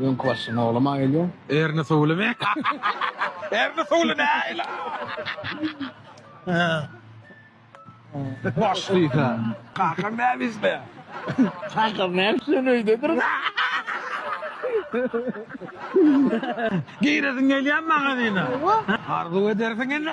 Öňki başy nolama gelýär. Erni suwlymy? Erni suwly näýli? Başlysa. Kakam näbismi? Kakam näbis sen öýdedir. Giresiň gelýär magazyna? Arzuw edersiň indi.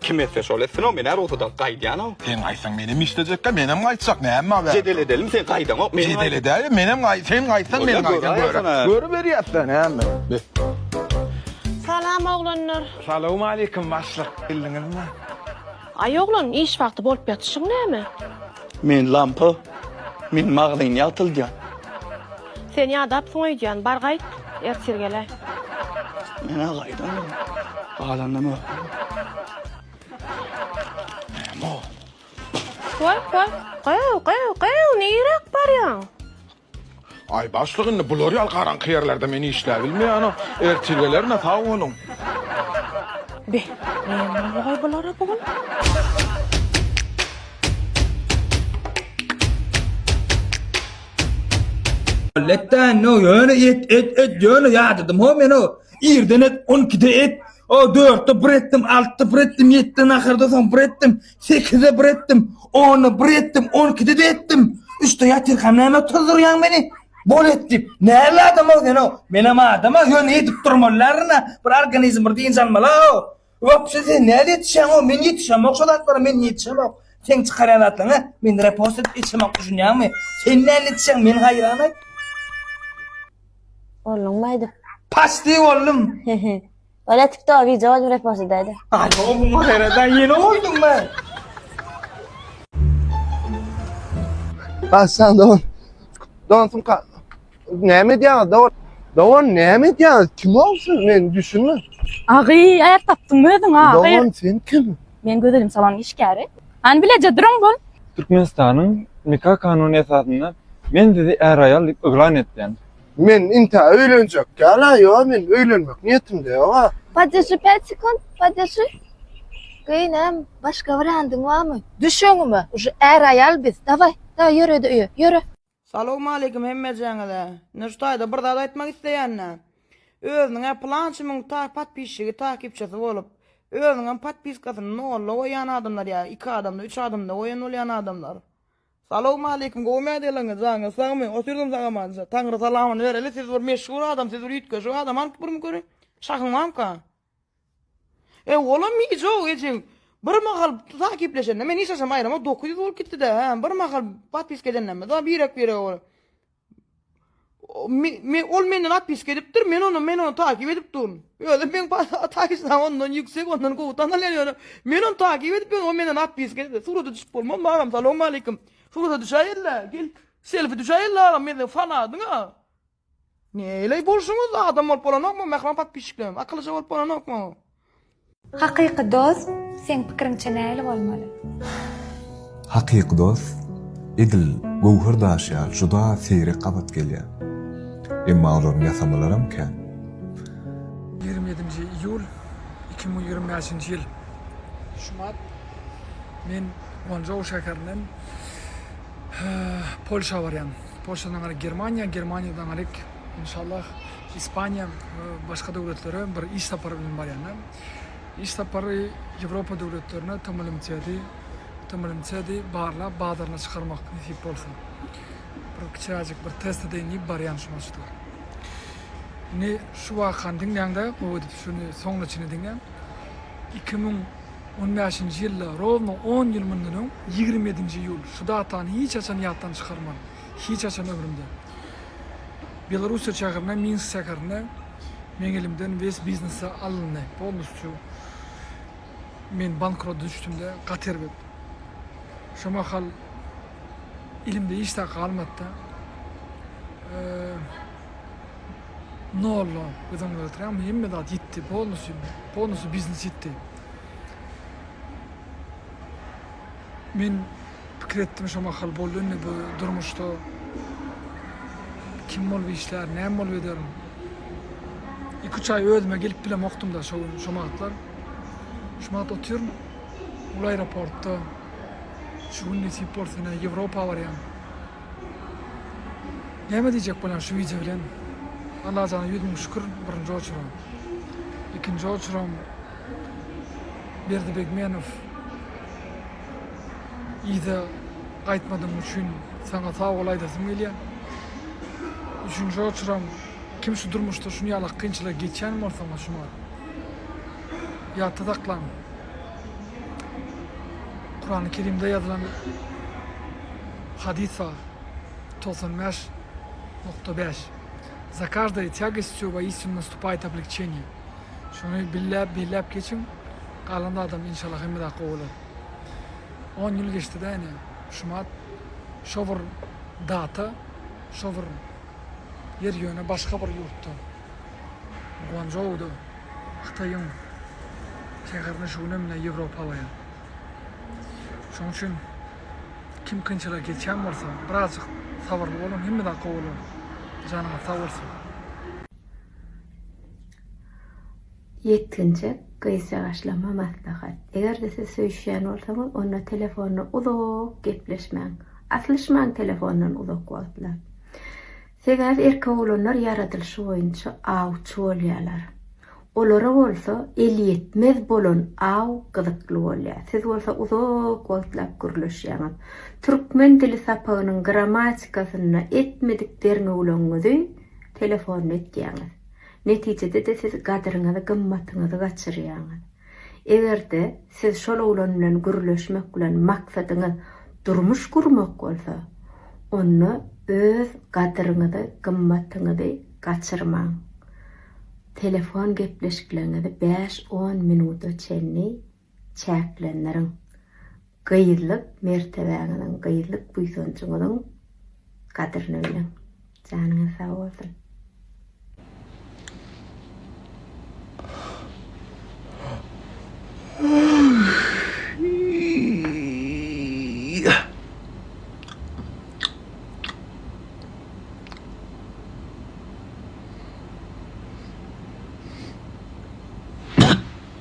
Kim etse şol etsin o menä rugsada gaýdýanow. Seň aýtsaň menem işlejekka menem gaýtjak näme aberdi. Jedel edelim sen gaýdaňok men. Jedel edäýe menem gaý sen gaýtsaň men gaýdan göre. Görüberýäsdä näme. Salam oglanlar. Salowmaleýkim başlyk geldiňizmi. Aý oglan iş wagty bolup ýatyşyň näme. Men lampa men magazyn ýagtyldýan. Sen ýadapsyň öýdýän, bar gaýt, ertir gel-ä. Men-ä gaýdandym, galandam ökdüm. Näme-ow? Woý, woý, gyw, gyw, gyw, niräk barýaň? Aý, başlyk, indi bular ýaly garaňky ýerlerde men işläbilmeýän-ow. Ertir gelerin-ä, sag boluň. Be, näme boldy-oý bulara bu gün? Letdan no ýöne et et et ýöne ýadadym ho men o irden et 12-de et o 4-de bir etdim 6-da bir etdim 7-de naharda soň bir etdim 8-de bir etdim 10-da bir etdim 12-de de etdim 3-de ýatyrkam näme tuzdurýaň meni bol et diýip näme adam o sen o men hem adam o ýöne edip durmalylaryna bir organizm bir dynç almaly o Wapse sen nädip ýetişýäňow men ýetişemok şo zatlara men ýetişemok seň çykarýan zatlaryňa men repost edip ýetişemok düşünýäňmi sen nädip ýetişýäň men haýran aý. Bolduňmy aýdyp. Paçti boldum. Ola tiktoga wideo edip repost edäýdä. Alo bu maherada ýene bolduňmy. Başdan don don sumka Näme edýäňiz dogan? Dogan näme edýäňiz? Kim bolsun? Men düşünmän. Agy, aýak tapdyň özüň ha. Dogan sen kim? Men gözelim salon işgäri. Hany bileje duruň bol. Türkmenistanyň nika kanuny esasynda men sizi är-aýal diýip yglan etýän. Men intä öýlenjek däl-ä, ýok men öýlenmek niýetimde ýok-a. Podýaşy päç sekund, podýaşy. Geý näm, başga wariandyň barmy? Düş öňüme, uje är-aýal biz. Dawaý, dawaý ýöre-de öýe, ýöre. Salowmaleýkim hemmejäňize. Nurtaýda bir zat aýtmak isleýänä. Özüniň-ä pylançy müň ta podpisçigi, takipçisi bolup, özüniňem podpiskasyny nolla goýýan adamlar ýa iki adamda, üç adamda goýan bolýan adamlar. Salowmaleýkim gowy medyalaryňa janyňyz sagmy o sürüň sag amanca taňry salamyny bereli siz bir meşhur adam siz bir üýtgeşik adam anyp birmi köri şahyň bamyka. Ew, olam myjok, ejeň. Bir mahal uzak gepleşende, men hiç haçan aýrama dokuz ýüz bolup gitdi-dä, hä, bir mahal otpiska edenimizde birek-birege ol Me-me ol menden otpiska edipdir, men ony, men ony takyp edip durun. Özem meň taýsyna ondan ýüksek, ondan gowy tanalýan ýöne, men ony takyp edip ýörün, ol menden otpiska edipdir. Surata düşüp bolmazmy agam? Salowmaleýkim. Surata düşäýeli-dä, gel, selfi düşäýeli-dä agam, men seniň fanadyň-a. Neyley bolşuňyz adam bolup bolanokmy mähriban podpisçiklerim akylyja bolup bolanokmy. Hakyky dost seň pikiriňçe näli bolmaly. Hakyky dost edil göwher daşy ýaly juda seýrek gabat gelýär. Emma olaryň ýasamalaram kän. Ýigrimi ýedinji iýul iki müň ýigrimi bäşinji ýyl şumat men Guanzhou şäherinden Polşa barýan. Polşadan aňryk Germaniýa, Germaniýadan aňryk inşallah Ispaniýa we başga döwletlere bir iş sapary bilen barýanam. Iş sapary Ýewropa döwletlerine TMLMC-di, TMLMC-di barlap bazaryna çykarmak nesip bolsa. Bir kiçiräjik bir test edeýin diýip barýan şu maşgala. Indi şu wakany diňläňde gowy edip şuny soňuna çenli diňläň. Iki müň On bäşinji ýylda, rowno on ýyl mundan öň, ýigrimi ýedinji iýul, şu datany hiç haçan ýatdan çykarman, hiç haçan ömrümde. Belorussiýa şäherine, Minsk şäherine meň elimden wes biznesi alyndy, polnusçu men bankrota düşdüm-de, gaty erbet. Şo mahal elimde hiç zat galmady-da. Nolla göz öňüne getirýäňmi? Hemme zat ýitdi. Polnusy, polnusy biznes ýitdi. Men pikir etdim şo mahal boldy indi bu durmuşda kim bolup işlär, näme bolup ederin? Iki-üç aý özüme gelip bilemokdym-da şo gün, şo wagtlar. Şu wagt otyryn ol aeroportda. Şu gün nesip bolsa ine Ýewropa barýan. Näme diýjek bolýan şu wideo bilen Allajana ýüz müň şükür birinji oçuram ikinji oçuram Berdi Begmenow yza gaýtmadyň üçin saňa sag bol aýdasym gelýä üçünji oçuram kim şu durmuşda şuny ýalak kynçylygy geçýän bolsaňyz şuňa ýatda saklan. Kurany Kerimde ýazylan hadys bar. Togsan bäş nokta bäş. Za każdej tjagostjo woistinu nastupajt obliqçeniýe. Şuny billäp, belläp geçiň, galan zadam inşallah hemme zat gowy bolar. On ýyl geçdi-de ine, şumat, şo bir data, şo bir ýer ýöne başga bir ýurtda. Guanzhouda Hytaýyň şäherinde şu günem menä Ýewropa alaýar. Şonuň üçin kim kynçylygy geçýän bolsa, birazjyk sabyrly boluň, hemme zat gowy bolar. Janyňyz sag bolsun. Ýetginjek gyz ýaşlama maslahat. Eger-de siz söýüşýän bolsaňyz, onda telefonda uzak gepleşmäň. Aslyşmaň telefondan uzak wagtlap. Sebäbi erkek oglanlar ýaradylyşy boýunça awçy bolýarlar. Olara bolsa elýetmez bolan aw gyzykly bolýar. Siz bolsa uzak wagtlap gürleşýäňiz. Türkmen dili sapagynyň grammatikasynda etmedik derňewligiňizi telefonda etýäňiz. Netijede-de siz gadyryňyzy, gymmatyňyzy gaçyrýaňyz. Eger-de siz şol oglan bilen gürleşmek bilen maksadyňyz durmuş gurmak bolsa, onda öz gadyryňyzy, gymmatyňyzy gaçyrmaň. Telefon gepleşikleriňizi bäş-on minuta çenli çäklendiriň. Gyzlyk mertebäňiziň, gyzlyk buýsanjyňyzyň gadryny biliň. Janyňyz sag bolsun.